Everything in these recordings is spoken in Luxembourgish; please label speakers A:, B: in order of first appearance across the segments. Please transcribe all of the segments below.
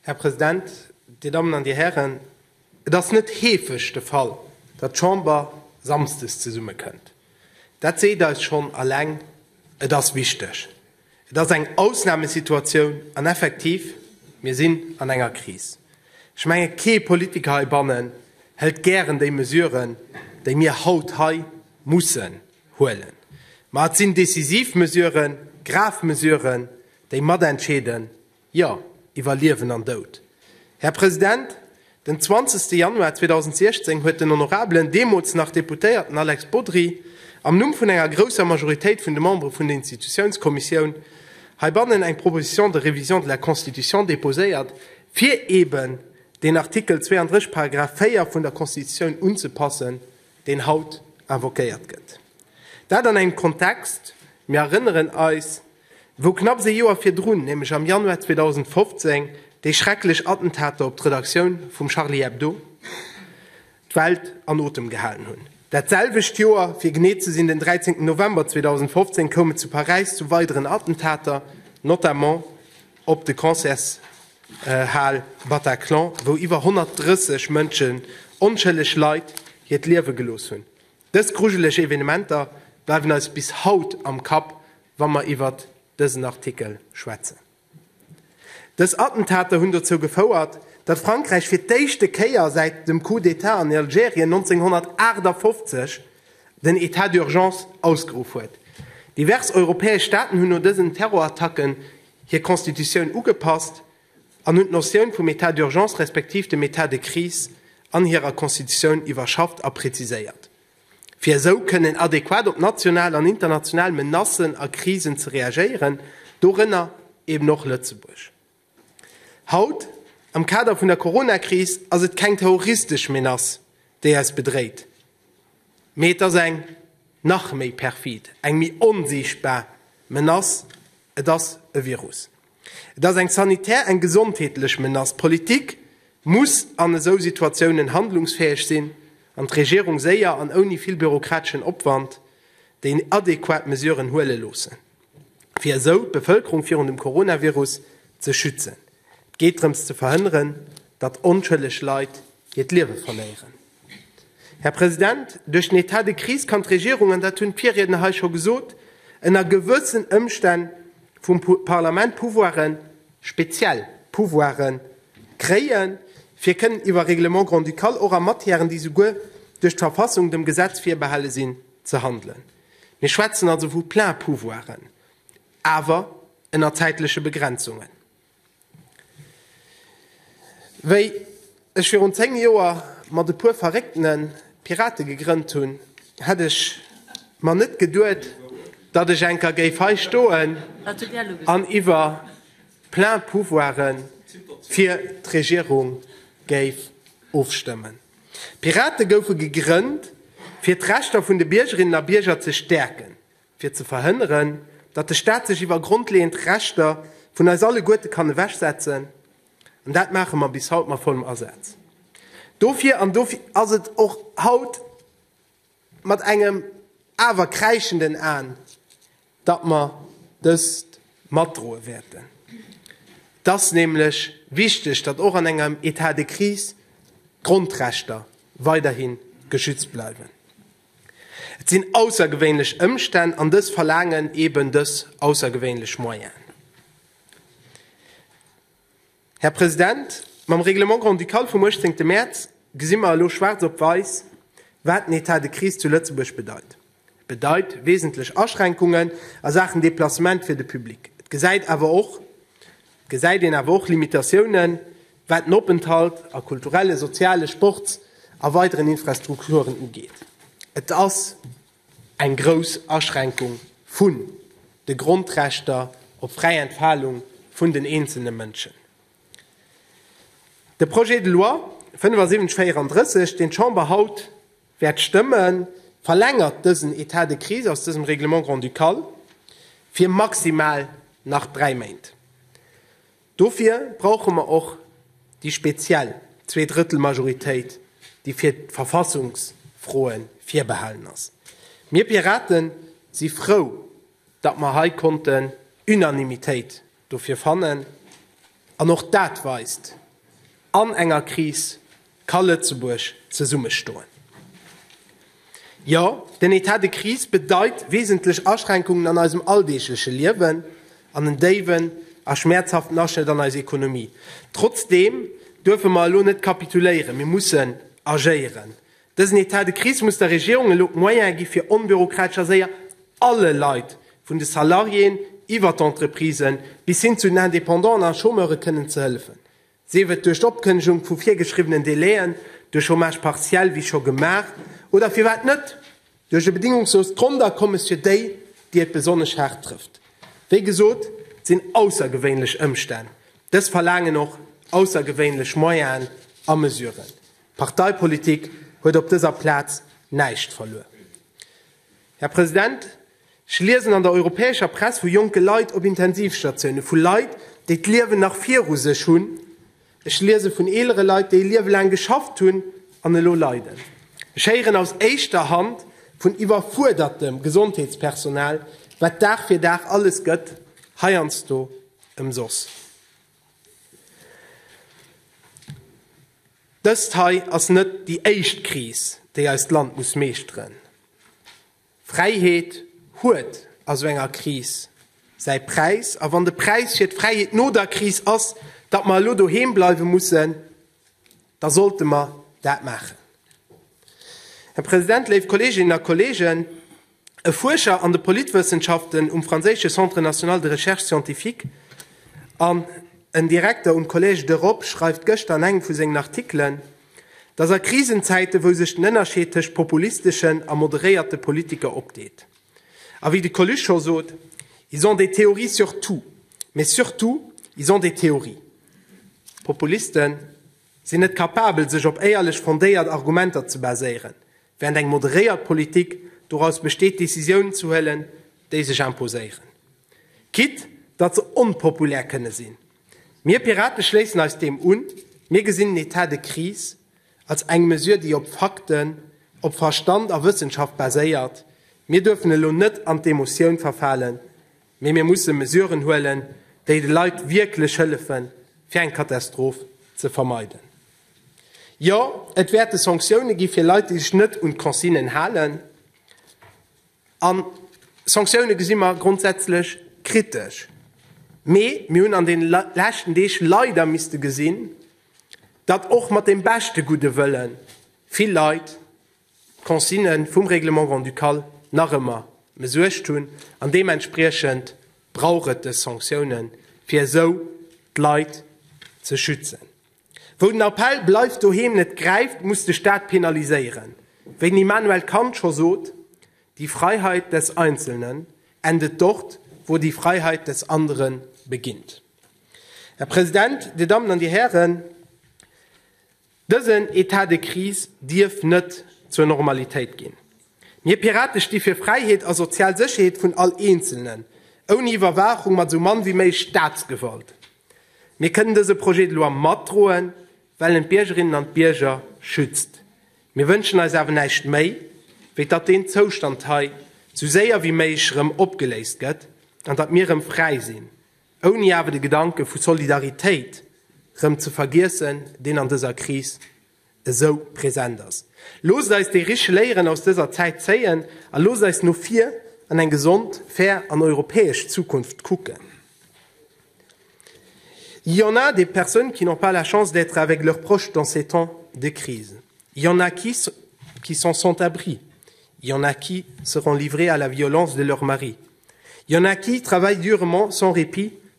A: Här President, Dir Dammen an Dir Hären, et ass net heefeg de Fall, datt d'Chamber samsdes zesummekënnt. Dat seet eis schonn eleng, et ass wichteg. Et ass eng Ausnamesituatioun an effektiv, mir sinn an enger Kris. Ech menge kee Politiker heibannen hëlt gären déi Mesuren, déi mir haut hei mussen huelen. Ma et sinn decisiv Mesuren, grav Mesuren, déi matentscheeden, jo, iwwer Liewen an Doud. Här President, den 20. Januar 2016 huet den honorabelen, deemools nach Deputéierten Alex Bodry am Numm vun enger grousser Majoritéit vun de Membere vun der Institutiounskommissioun heibannen eng Proposition de révision de la Constitution déposéiert, fir eeben deen Artikel 32, Paragraph 4 vun der Constitutioun unzepassen, deen haut invoquéiert gëtt, dat an engem Kontext, mir erënneren eis, wou knapps ee Joer virdrun, nämlech am Januar 2015, déi schrecklech Attentater op d'Redaktioun vum Charlie Hebdo d'Welt an Otem gehalen hunn. Dat selwecht Joer, fir genee ze sinn, den 13 November 2015, koum et zu Paräis zu weideren Attentater, notamment, op de Concertshal Bataclan, wou iwwer 130 Mënschen, onschëlleg Leit, hiert Liewe gelooss hunn. Dës grujeleg Evenementer bleiwen eis bis haut am Kapp, wa mer iwwert dësen Artikel schwätzen. Dës Attentater hunn dozou gefouert, datt Frankräich fir d'éischte Kéier säit dem Coup d'Etat an Algerien 1958, den Etat d'urgence ausgeruff huet. Divers europäesch Staaten hunn no dësen Terrorattacken hir Constitutioun ugepasst an hunn d'Notioun vum Etat d'urgence respektiv dem Etat de crise an hirer Constitutioun iwwerschafft a preziséiert, fir esou kënnen adequat op national an international Menacen a Krisen ze reagéieren, dorënner eben och Lëtzebuerg. Haut, am Kader vun der Coronakris, ass et keng terroristesch Menace, déi eis bedréit, mee et ass eng nach méi perfid, eng méi onsiichtbar Menace, et ass e Virus. Et ass eng sanitär, eng gesondheetlech Menace. D'Politik muss an esou Situatiounen handlungsfäeg sinn an d'Regierung séier an ouni vill bürokrateschen Opwand déi adequat Mesuren huele loossen. fir esou d'Bevëlkerung virun dem Coronavirus ze schützen. Et geet drëms ze verhënneren, datt onschëlleg Leit hiert Liewe verléieren. Här President, duerch den État de crise kann d'Regierung, an dat hunn d'Virriedner hei scho gesot, ënner gewëssen Ëmstänn vum Parlament Pouvoiren, speziell Pouvoiren, kréien, fir kënnen iwwer Règlements grand-ducales, och a Matièren, déi souguer duerch d'Verfassung dem Gesetz virbehale sinn, ze handelen. Mir schwätzen also vu Plein-pouvoiren, awer ënner zäitleche Begrenzungen. Wéi ech virun zéng Joer mat e puer Verréckten d'Pirate gegrënnt hunn, hätt ech mer net geduet, datt ech eng Kéier géif hei stoen an iwwer Plein-pouvoiren fir d'Regierung géif ofstëmmen. D'Pirate goufe gegrënnt, fir d'Rechter vun de Biergerinnen a Bierger ze stäerken, fir ze verhënneren, datt de Staat sech iwwer grondleeënd Rechter vun eis alleguerte kann ewechsetzen. An dat maache mer bis haut mat vollem Asaz dofir. An dofir ass et och haut. mat engem awer kräischenden Aen, datt mer dëst matdroe wäerten. Et ass nämlech wichteg, datt och an engem Etat de crise d'Grondrechter weiderhi geschützt bleiwen. Et sinn aussergewéinlech Ëmstänn an dës verlaangen eben dës aussergewéinlech Moyenen. Här President, mam Règlement grand-ducal vum 18 Mäerz gesi mer elo schwaarz op weiss, wat den Etat de crise zu Lëtzebuerg bedeit. E bedeit wesentlech Aschränkungen a Saachen Deplacement fir de Public. Et gesäit awer och, et gesäit een awer och Limitatiounen, wat den Openthalt a kulturelle, soziale, Sports a weideren Infrastrukturen ugeet. Et ass. Eng grouss Aschränkung vun de Grondrechter op fräi Entfalung vun den eenzelne Mënschen. De Projet de loi 7534, deen d'Chamber haut wäert stëmmen, verlängert dësen Etat de crise aus dësem Règlement grand-ducal fir maximal nach dräi Méint. Dofir brauche mer och déi speziell Zweedrëttelmajoritéit, déi fir d'Verfassungsfroe virbehalen ass. Mir Pirate si frou, datt mer hei konnten Unanimitéit dofir fannen. An och dat weist, An enger Kris ka Lëtzebuerg zesummestoen. Jo, den Etat de crise bedeit wesentlech Aschränkungen an eisem alldeegleche Liewen an en déiwen a schmäerzhaften Aschnëtt an eis Ekonomie. Trotzdeem duerfe mer elo net kapituléieren, mir mussen agéieren. Dësen Etat de crise muss der Regierung elo d'Moyene gi fir onbürokratesch a séier alle Leit, vun de Salariéen iwwer d'Entreprisen bis hin zu den Independanten a Chômeure kënnen ze hëllefen. sief et duerch d'Opkënnegung vu virgeschriwwenen Délai'en, duerch Chômage partiel, wéi scho gemaach, oder, firwat net, duerch e bedingungsloost Grondakommes fir déi, déi et besonnesch haart trëfft. Wéi gesot, et sinn aussergewéinlech Ëmstänn. Dës verlaangen och aussergewéinlech Moyen'en a Mesuren. D'Parteipolitik huet op dëser Plaz näischt verluer. Här President, Ech liesen an der europäescher Press vu jonke Leit op Intensivstatioune, vu Leit, déi d'Liewen nach viru sech hunn. Ech liese vun eelere Leit, déi e Liewe laang geschafft hunn an elo leiden. Ech héieren aus éischter Hand vun iwwerfuerdertem Gesondheetspersonal, wat Dag fir Dag alles gëtt, heiansdo ëmsoss. Dëst hei ass net déi éischt Kris, déi eist Land muss meeschteren. Fräiheet huet a sou enger Kris säi Präis. A wann de Präis fir d'Fräiheet no der Kris ass, datt mer elo doheem bleiwe mussen, da sollte mer dat maachen. Här President, léif Kolleeginnen a Kolleegen, e Fuerscher an de Politwëssenschaften um franséische Centre national de recherche scientifique an en Direkter um Collège d'Europe schreift gëschter an engem vu sengen Artikelen, Dass a Krisenzäiten, wou sech den Ënnerscheed tëscht populisteschen a moderéierte Politiker opdeet, a wéi de Coluche scho sot, Ils ont des théories sur tout, mais surtout ils ont des théories. D'Populiste sinn net capabel, sech op éierlech fondéiert Argumenter ze baséieren, während eng moderéiert Politik doraus besteet, Decisiounen ze huelen, déi sech imposéieren, quitte datt se onpopulär kënne sinn. Mir Pirate schléissen eis deem un. Mir gesinn en Etat de crise als eng Mesure, déi op Fakten, op Verstand a Wëssenschaft baséiert. Mir duerfen elo net an d'Emotioun verfalen, mee mir musse Mesuren huelen, déi de Leit wierklech hëllefen, fir eng Katastroph ze vermeiden. Jo, et wäerte Sanktioune gi fir Leit, déi sech net un d'Consignen halen. A Sanktioune gesi mer grondsätzlech kritesch. Mee mir hunn an deene leschten Deeg leider misste gesinn, datt och mat dem beschte gudde Wëlle vill Leit d'Consigne vum Règlement grand-ducal nach ëmmer mëssuecht hunn. An deementspriechend brauch et dës Sanktiounen, fir esou d'Leit ze schützen. Wou den Appell Bleift doheem net gräift, muss de Staat penaliséieren. Wéi den Immanuel Kant scho sot, Die Freiheit des Einzelnen endet dort, wo die Freiheit des anderen beginnt. Här President, Dir Dammen an Dir Hären, dësen État de crise dierf net zur Normalitéit ginn. Mir Pirate sti fir Fräiheet a sozial Sécherheet vun all Eenzelnen, ouni Iwwerwaachung, mat esou mann wéi méi Staatsgewalt. Mir kënnen dëse Projet de loi matdroen, well en d'Biergerinnen an d'Bierger schützt. Mir wënschen eis awer näischt méi, wéi datt deen Zoustand hei sou séier wéi méiglech erëm opgeléist gëtt an datt mir erëm fräi sinn, ouni awer de Gedanke vu Solidaritéit erëm ze vergiessen, deen an dëser Kris esou present ass. Loosst eis déi rich Léieren aus dëser Zäit zéien a loosst eis no vir an eng gesond, fair an europäesch Zukunft kucken. Il y en a des personnes qui n'ont pas la chance d'être avec leurs proches dans ces temps de crise. Il y en a qui qui sont sans abri. Il y en a qui seront livrées à la violence de leur mari. Il y en a qui travaillent durement sans répit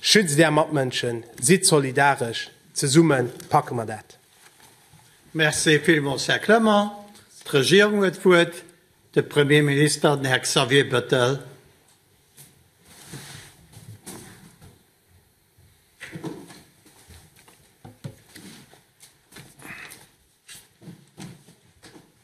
A: Schützt är Matmënschen, sidd solidaresch, zesumme packe mer dat! Merci villmools, Här Clement. D'Regierung huet d'Wuert, de Premier minister, den Här Xavier Bettel.